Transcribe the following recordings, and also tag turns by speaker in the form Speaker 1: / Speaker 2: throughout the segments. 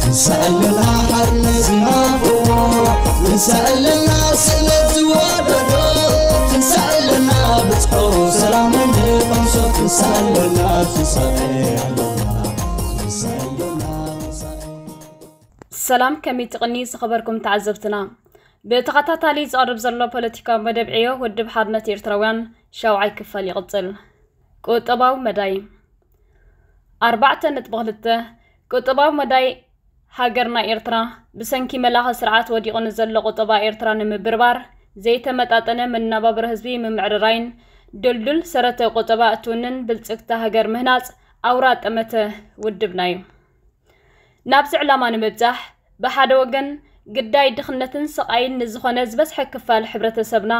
Speaker 1: ንሰኣለና ሓርነት ዝናፍቆ ንሰኣለና ስእነት ዝወደዶ ትንሰኣለና ብጽሑ ሰላም እንቐምሶ ትንሰኣለና ትንሳኤ
Speaker 2: ሰላም ከመይ ትቕኒ ዝኸበርኩም ተዓዘብትና ብተኸታታሊ ዝቐርብ ዘሎ ፖለቲካዊ መደብ ዕዮ ውድብ ሓርነት ኤርትራውያን ሻውዓይ ክፋል ይቕጽል ቁጠባዊ መዳይ ኣርባዕተ ነጥቢ ክልተ ቁጠባዊ መዳይ ሃገርና ኤርትራ ብሰንኪ መላኺ ስርዓት ወዲቑ ንዘሎ ቁጠባ ኤርትራ ንምብርባር ዘይተመጣጠነ መነባብሮ ህዝቢ ምምዕርራይን ድልዱል ሰረተ ቁጠባ እትውንን ብልጽግቲ ሃገር ምህናጽ ኣውራ ጠመተ ውድብና እዩ። ናብዚ ዕላማ ንምብጻሕ ብሓደ ወገን ግዳይ ድኽነትን ስቓይን ንዝኾነ ዝበዝሐ ክፋል ሕብረተሰብና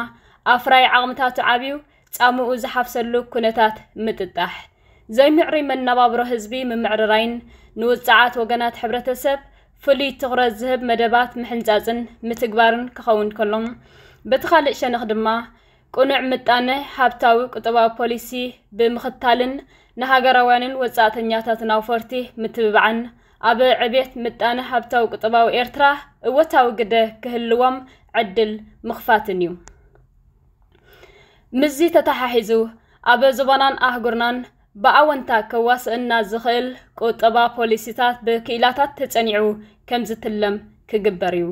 Speaker 2: ኣፍራይ ዓቕምታቱ ዓብዩ ጻምኡ ዝሓፍሰሉ ኩነታት ምጥጣሕ፣ ዘይምዕሩይ መነባብሮ ህዝቢ ምምዕርራይን ንውጽዓት ወገናት ሕብረተሰብ ፍሉይ ትኹረት ዝህብ መደባት ምሕንጻጽን ምትግባርን ክኸውን ከሎ፣ በቲ ካልእ ሸነኽ ድማ ቅኑዕ ምጣነ ሃብታዊ ቁጠባዊ ፖሊሲ ብምኽታልን ንሃገራውያንን ወጻእተኛታትን ኣውፈርቲ ምትብባዕን ኣብ ዕብየት ምጣነ ሃብታዊ ቁጠባዊ ኤርትራ እወታዊ ግደ ክህልዎም ዕድል ምኽፋትን እዩ። ምስዚ ተተሓሒዙ ኣብ ዞባናን ኣህጉርናን ብኣወንታ ከዋስእና ዝኽእል ቁጠባ ፖሊሲታት ብክኢላታት ተጸኒዑ ከም ዝትለም ክግበር እዩ።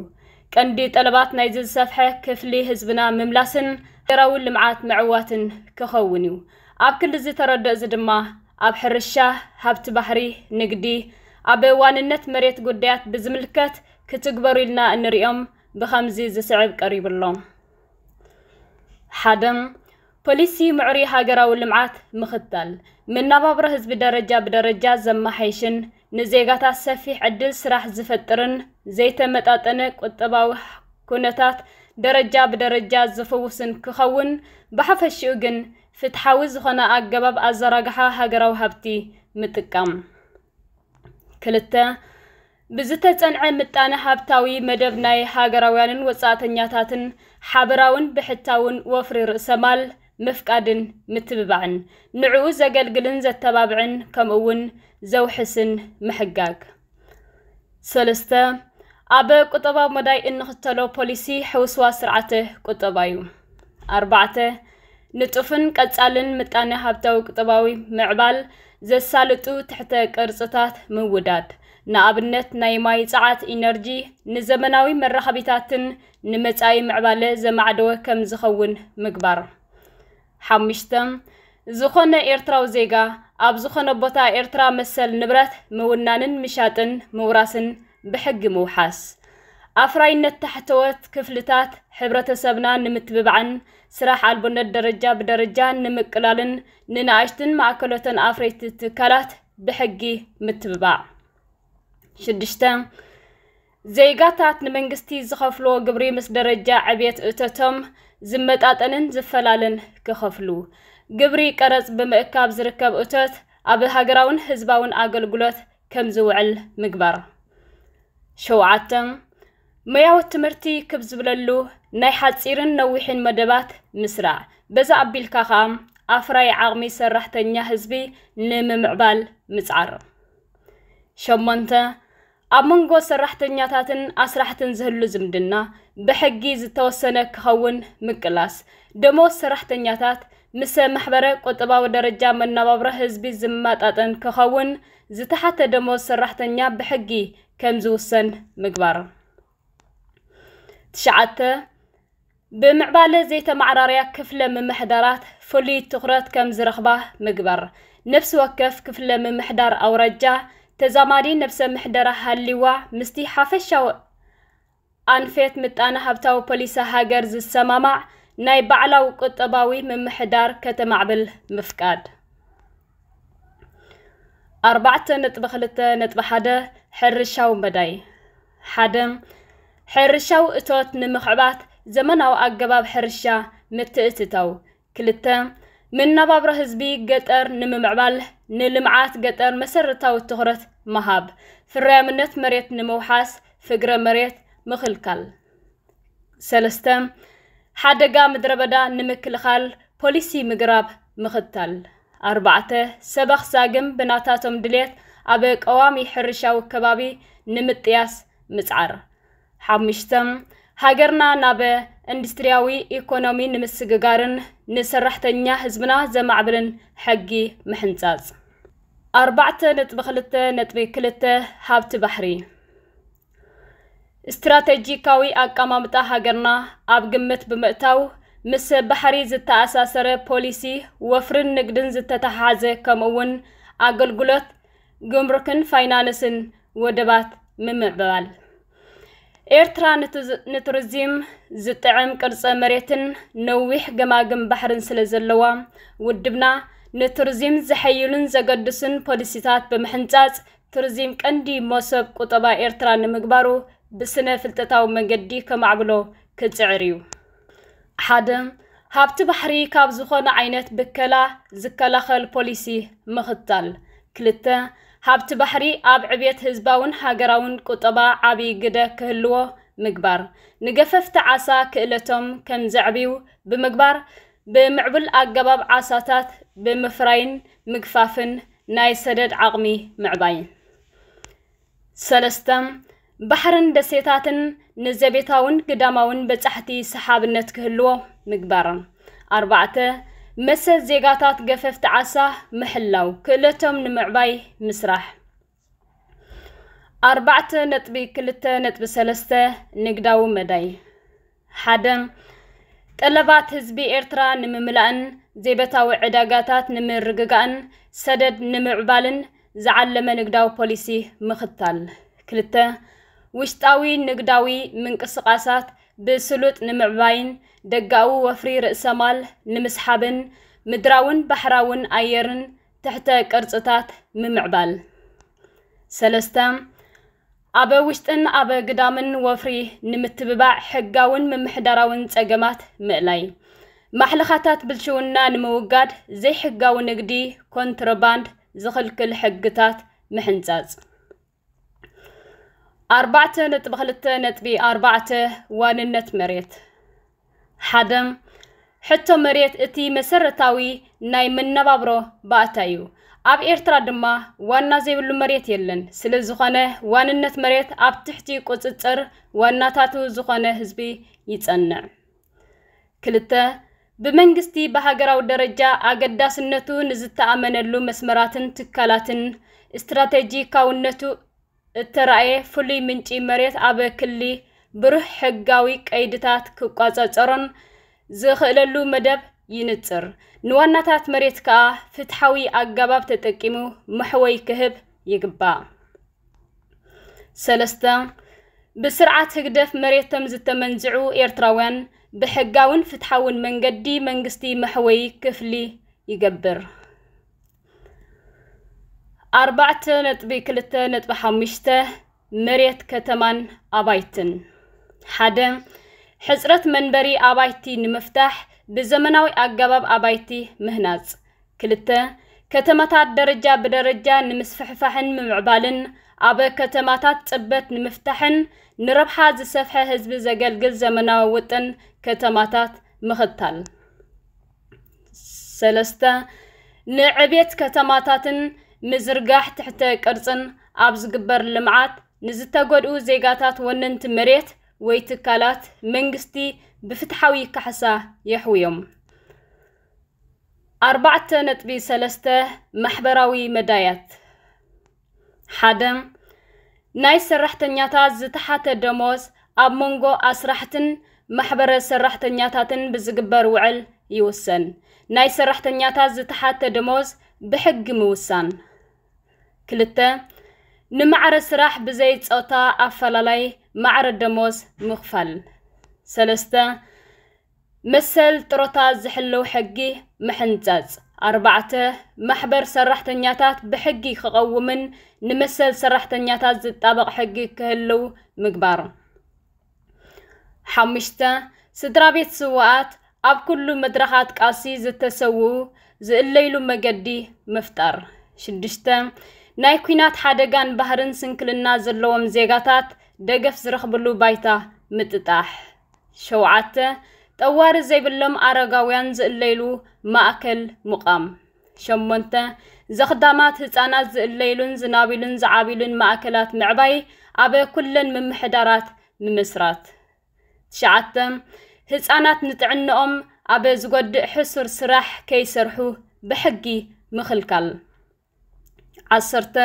Speaker 2: ቀንዲ ጠለባት ናይዚ ዝሰፍሐ ክፍሊ ህዝብና ምምላስን ሃገራዊ ልምዓት ምዕዋትን ክኸውን እዩ። ኣብ ክሊ እዚ ተረድኦ እዚ ድማ ኣብ ሕርሻ፣ ሃብቲ ባሕሪ፣ ንግዲ፣ ኣብ ዋንነት መሬት ጉዳያት ብዝምልከት ክትግበሩ ኢልና እንርእዮም ብኸምዚ ዝስዕብ ቀሪቡ ኣሎ። ሓደ ፖሊሲ ምዕሩይ ሃገራዊ ልምዓት ምኽታል መነባብሮ ህዝቢ ደረጃ ብደረጃ ዘመሓይሽን ንዜጋታት ሰፊሕ ዕድል ስራሕ ዝፈጥርን ዘይተመጣጠነ ቁጠባዊ ኩነታት ደረጃ ብደረጃ ዝፍውስን ክኸውን ብሓፈሽኡ ግን ፍትሓዊ ዝኾነ ኣገባብ ኣዘራግሓ ሃገራዊ ሃብቲ ምጥቃም ክልተ ብዝተጸንዐ ምጣነ ሃብታዊ መደብ ናይ ሃገራውያንን ወጻእተኛታትን ሓበራውን ብሕታውን ወፍሪ ርእሰ ማል ምፍቃድን ምትብባዕን፣ ንዕኡ ዘገልግልን ዘተባብዕን ከምኡ'ውን ዘውሕስን ምሕጋግ። ሰለስተ፣ ኣብ ቁጠባዊ መዳይ እንኽተሎ ፖሊሲ ሕውስዋስ ስርዓተ ቁጠባ'ዩ። ኣርባዕተ፣ ንጡፍን ቀጻልን ምጣኔ ሃብታዊ ቁጠባዊ ምዕባል ዘሳልጡ ትሕተ ቅርጽታት ምውዳድ፣ ንኣብነት ናይ ማይ ጸዓት ኢነርጂ ንዘመናዊ መራኸቢታትን ንመጻኢ ምዕባለ ዘማዕደወ ከም ዝኸውን ምግባር። ሓሙሽተ፣ ዝኾነ ኤርትራዊ ዜጋ ኣብ ዝኾነ ቦታ ኤርትራ መሰል ንብረት ምውናንን ምሻጥን ምውራስን ብሕጊ ምውሓስ ኣፍራይነት ታሕተዎት ክፍልታት ሕብረተሰብና ንምትብባዕን ስራሕ ኣልቦነት ደረጃ ብደረጃ ንምቅላልን ንናእሽትን ማእከሎተን ኣፍረይቲ ትካላት ብሕጊ ምትብባዕ። ሽዱሽተ ዜጋታት ንመንግስቲ ዝኸፍልዎ ግብሪ ምስ ደረጃ ዕብየት እቶቶም ዝመጣጠንን ዝፈላለን ክኸፍሉ። ግብሪ ቀረጽ ብምእካብ ዝርከብ እቶት ኣብ ሃገራውን ህዝባውን ኣገልግሎት ከም ዝውዕል ምግባር። ሸውዓተ፣ ሞያዊ ትምህርቲ ክብ ዝብለሉ ናይ ሓጺርን ነዊሕን መደባት ምስራዕ፣ በዚ ኣቢልካ ከኣ ኣፍራዪ ዓቕሚ ሰራሕተኛ ህዝቢ ንምምዕባል ምጽዓር። ሸሞንተ፣ ኣብ መንጎ ሰራሕተኛታትን ኣስራሕትን ዝህሉ ዝምድና ብሕጊ ዝተወሰነ ክኸውን ምቅላስ፣ ደመወዝ ሰራሕተኛታት ምሰ ማሕበረ ቁጠባዊ ደረጃ መነባብሮ ህዝቢ ዝመጣጠን ክኸውን ዝተሓተ ደሞዝ ሰራሕተኛ ብሕጊ ከምዝውሰን ምግባር። ትሽዓተ፣ ብምዕባለ ዘይተመዓራርያ ክፍለ ምምሕዳራት ፍሉይ ትኹረት ከምዝረኽባ ምግባር። ነፍሲ ወከፍ ክፍለ ምምሕዳር ኣውራጃ ተዛማዲ ነብሰ ምሕደራ ሃልይዋ ምስቲ ሓፈሻዊ ኣንፌት ምጣነ-ሃብታዊ ፖሊሲ ሃገር ዝሰማማዕ ናይ ባዕላዊ ቁጠባዊ ምምሕዳር ከተማዕብል ምፍቃድ። ኣርባዕተ ነጥቢ ክልተ ነጥቢ ሓደ ሕርሻዊ መዳይ ሓደ ሕርሻዊ እቶት ንምኽዕባት ዘመናዊ ኣገባብ ሕርሻ ምትእትታው ክልተ፣ መነባብሮ ህዝቢ ገጠር ንምምዕባል ንልምዓት ገጠር መሰረታዊ ትኹረት ምሃብ፣ ፍርያምነት መሬት ንምውሓስ ፍግረ መሬት ምኽልካል። ሰለስተ፣ ሓደጋ ምድረበዳ ንምክልኻል ፖሊሲ ምግራብ ምኽታል። ኣርባዕተ፣ ሰበኽ ዛግም ብናታቶም ድሌት ኣብ ቀዋሚ ሕርሻዊ ከባቢ ንምጥያስ ምጽዓር። ሓሙሽተ፣ ሃገርና ናብ እንዱስትሪያዊ ኢኮኖሚ ንምስግጋርን ንሰራሕተኛ ህዝብና ዘማዕብልን ሕጊ ምሕንጻጽ። ኣርባዕተ ነጥቢ ክልተ ነጥቢ ክልተ፣ ሃብቲ ባሕሪ ስትራተጂካዊ ኣቀማምጣ ሃገርና ኣብ ግምት ብምእታው ምስ ባሕሪ ዝተኣሳሰረ ፖሊሲ ወፍሪን ንግድን ዝተተሓሓዘ ከምኡ'ውን ኣገልግሎት ግምሩክን ፋይናንስን ወደባት ምምዕባል። ኤርትራ ንቱሪዚም ዝጥዕም ቅርጸ መሬትን ነዊሕ ገማግም ባሕርን ስለ ዘለዋ፣ ውድብና ንቱሪዚም ዘሐይሉን ዘገድሱን ፖሊሲታት ብምሕንጻጽ፣ ቱሪዚም ቀንዲ መሶብ ቁጠባ ኤርትራ ንምግባሩ ብስነ ፍልጠታዊ መንገዲ ከማዕብሎ ክጽዕር እዩ። ሓደ ሃብቲ ባሕሪ ካብ ዝኾነ ዓይነት ብከላ ዝከላኸል ፖሊሲ ምኽታል ክልተ ሃብቲ ባሕሪ ኣብ ዕብየት ህዝባውን ሃገራውን ቁጠባ ዓብዪ ግደ ክህልዎ ምግባር ንገፈፍቲ ዓሳ ክእለቶም ከም ዘዕብዩ ብምግባር ብምዕቡል ኣገባብ ዓሳታት ብምፍራይን ምግፋፍን ናይ ሰደድ ዓቕሚ ምዕባይ ሰለስተ፣ ባሕርን ደሴታትን ንዘቤታውን ግዳማውን በጻሕቲ ሰሓብነት ክህልዎ ምግባር። ኣርባዕተ፣ መሰል ዜጋታት ገፈፍቲ ዓሳ ምሕላው፣ ክእለቶም ንምዕባይ ምስራሕ። ኣርባዕተ ነጥቢ ክልተ ነጥቢ ሰለስተ፣ ንግዳዊ መዳይ። ሓደ፣ ጠለባት ህዝቢ ኤርትራ ንምምላእን ዜበታዊ ዕዳጋታት ንምርግጋእን ሰደድ ንምዕባልን ዝዓለመ ንግዳዊ ፖሊሲ ምኽታል። ክልተ፣ ውሽጣዊ ንግዳዊ ምንቅስቓሳት ብስሉጥ ንምዕባይን ደጋዊ ወፍሪ ርእሰማል ንምስሓብን ምድራውን ባሕራውን ኣየርን ትሕተ ቅርጽታት ምምዕባል። ሰለስተ፣ ኣብ ውሽጥን ኣብ ግዳምን ወፍሪ ንምትብባዕ ሕጋውን ምምሕዳራውን ጸገማት ምእላይ። ማሕለኻታት ብልሽውና ንምውጋድ ዘይሕጋዊ ንግዲ፣ ኮንትሮባንድ፣ ዝኽልክል ሕግታት ምሕንጻጽ። ኣርባዕተ ነጥቢ ክልተ ነጥቢ ኣርባዕተ ዋንነት መሬት ሓደ ሕቶ መሬት እቲ መሰረታዊ ናይ መነባብሮ ባእታ እዩ። ኣብ ኤርትራ ድማ ዋና ዘይብሉ መሬት የለን። ስለ ዝኾነ ዋንነት መሬት ኣብ ትሕቲ ቁጽጽር ዋናታቱ ዝኾነ ህዝቢ ይጸንዕ። ክልተ ብመንግስቲ ብሃገራዊ ደረጃ ኣገዳስነቱ ንዝተኣመነሉ መስመራትን ትካላትን ስትራቴጂካውነቱ እተራእየ ፍሉይ ምንጪ መሬት ኣብ ክሊ ብሩህ ሕጋዊ ቀይድታት ክቋጸጸሮን ዝኽእለሉ መደብ ይንጽር። ንዋናታት መሬት ከኣ ፍትሓዊ ኣጋባብ ተጠቂሙ መሕወይ ክህብ ይግባእ። ሰለስተ፣ ብስርዓት ህግደፍ መሬቶም ዝተመንዝዑ ኤርትራውያን ብሕጋውን ፍትሓውን መንገዲ መንግስቲ መሕወይ ክፍሊ ይገብር። ኣርባዕተ ነጥቢ ክልተ ነጥቢ ሓሙሽተ መሬት ከተማን ኣባይትን ሓደ ሕፅረት መንበሪ ኣባይቲ ንምፍታሕ ብዘመናዊ ኣገባብ ኣባይቲ ምህናፅ ክልተ ከተማታት ደረጃ ብደረጃ ንምስፍሕፋሕን ምምዕባልን ኣብ ከተማታት ፅበት ንምፍታሕን ንረብሓ ዝሰፍሐ ህዝቢ ዘገልግል ዘመናዊ ውጥን ከተማታት ምኽታል ሰለስተ ንዕቤት ከተማታትን ምዝርጋሕ ትሕተ ቅርፅን ኣብ ዝግበር ልምዓት ንዝተጎድኡ ዜጋታት ወነንቲ መሬት ወይ ትካላት መንግስቲ ብፍትሓዊ ካሕሳ የሕውዮም። ኣርባዕተ ነጥቢ ሰለስተ ማሕበራዊ መዳያት ሓደ፣ ናይ ሰራሕተኛታት ዝተሓተ ደሞዝ ኣብ መንጎ ኣስራሕትን ማሕበረ ሰራሕተኛታትን ብዝግበር ውዕል ይውሰን። ናይ ሰራሕተኛታት ዝተሓተ ደሞዝ ብሕጊ ምውሳን። ክልተ፣ ንማዕረ ስራሕ ብዘይ ጾታ ኣፈላላይ ማዕረ ደሞዝ ምኽፋል። ሰለስተ፣ መሰል ጥሮታ ዝሕልው ሕጊ ምሕንጸጽ። ኣርባዕተ፣ ማሕበር ሰራሕተኛታት ብሕጊ ክቐውምን ንመሰል ሰራሕተኛታት ዝጣበቕ ሕጊ ክህልው ምግባር። ሓሙሽተ፣ ስድራቤት ስውኣት ኣብ ኩሉ መድረኻት ቃልሲ ዝተሰውኡ ዝእለይሉ መገዲ ምፍጣር። ሽዱሽተ፣ ናይ ኩናት ሓደጋን ባህርን ስንክልና ዘለዎም ዜጋታት ደገፍ ዝረኽብሉ ባይታ ምጥጣሕ። ሸውዓተ፣ ጠዋሪ ዘይብሎም ኣረጋውያን ዝእለይሉ ማእከል ምቛም። ሸሞንተ፣ ዘኽዳማት ህጻናት ዝእለይሉን ዝናብሉን ዝዓብሉን ማእከላት ምዕባይ ኣብ ኩለን ምምሕዳራት ምምስራት። ትሽዓተ፣ ህጻናት ንጥዕንኦም ኣብ ዝጎድእ ሕሱር ስራሕ ከይሰርሑ ብሕጊ ምኽልካል። ዓሰርተ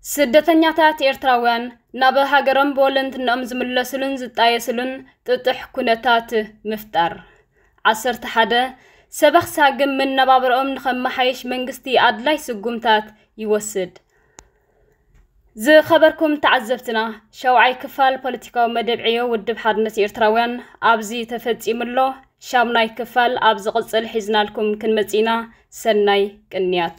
Speaker 2: ስደተኛታት ኤርትራውያን ናብ ሃገሮም ብወለንትንኦም ዝምለስሉን ዝጣየስሉን ጥጡሕ ኩነታት ምፍጣር። ዓሰርተ ሓደ ሰበኽ ሳግም መነባብሮኦም ንኸመሓይሽ መንግስቲ ኣድላይ ስጉምታት ይወስድ። ዝኸበርኩም ተዓዘብትና ሸውዓይ ክፋል ፖለቲካዊ መደብ ዕዮ ውድብ ሓርነት ኤርትራውያን ኣብዚ ተፈጺሙ ኣሎ። ሻምናይ ክፋል ኣብ ዝቕጽል ሒዝናልኩም ክንመጽእ ኢና። ሰናይ ቅንያት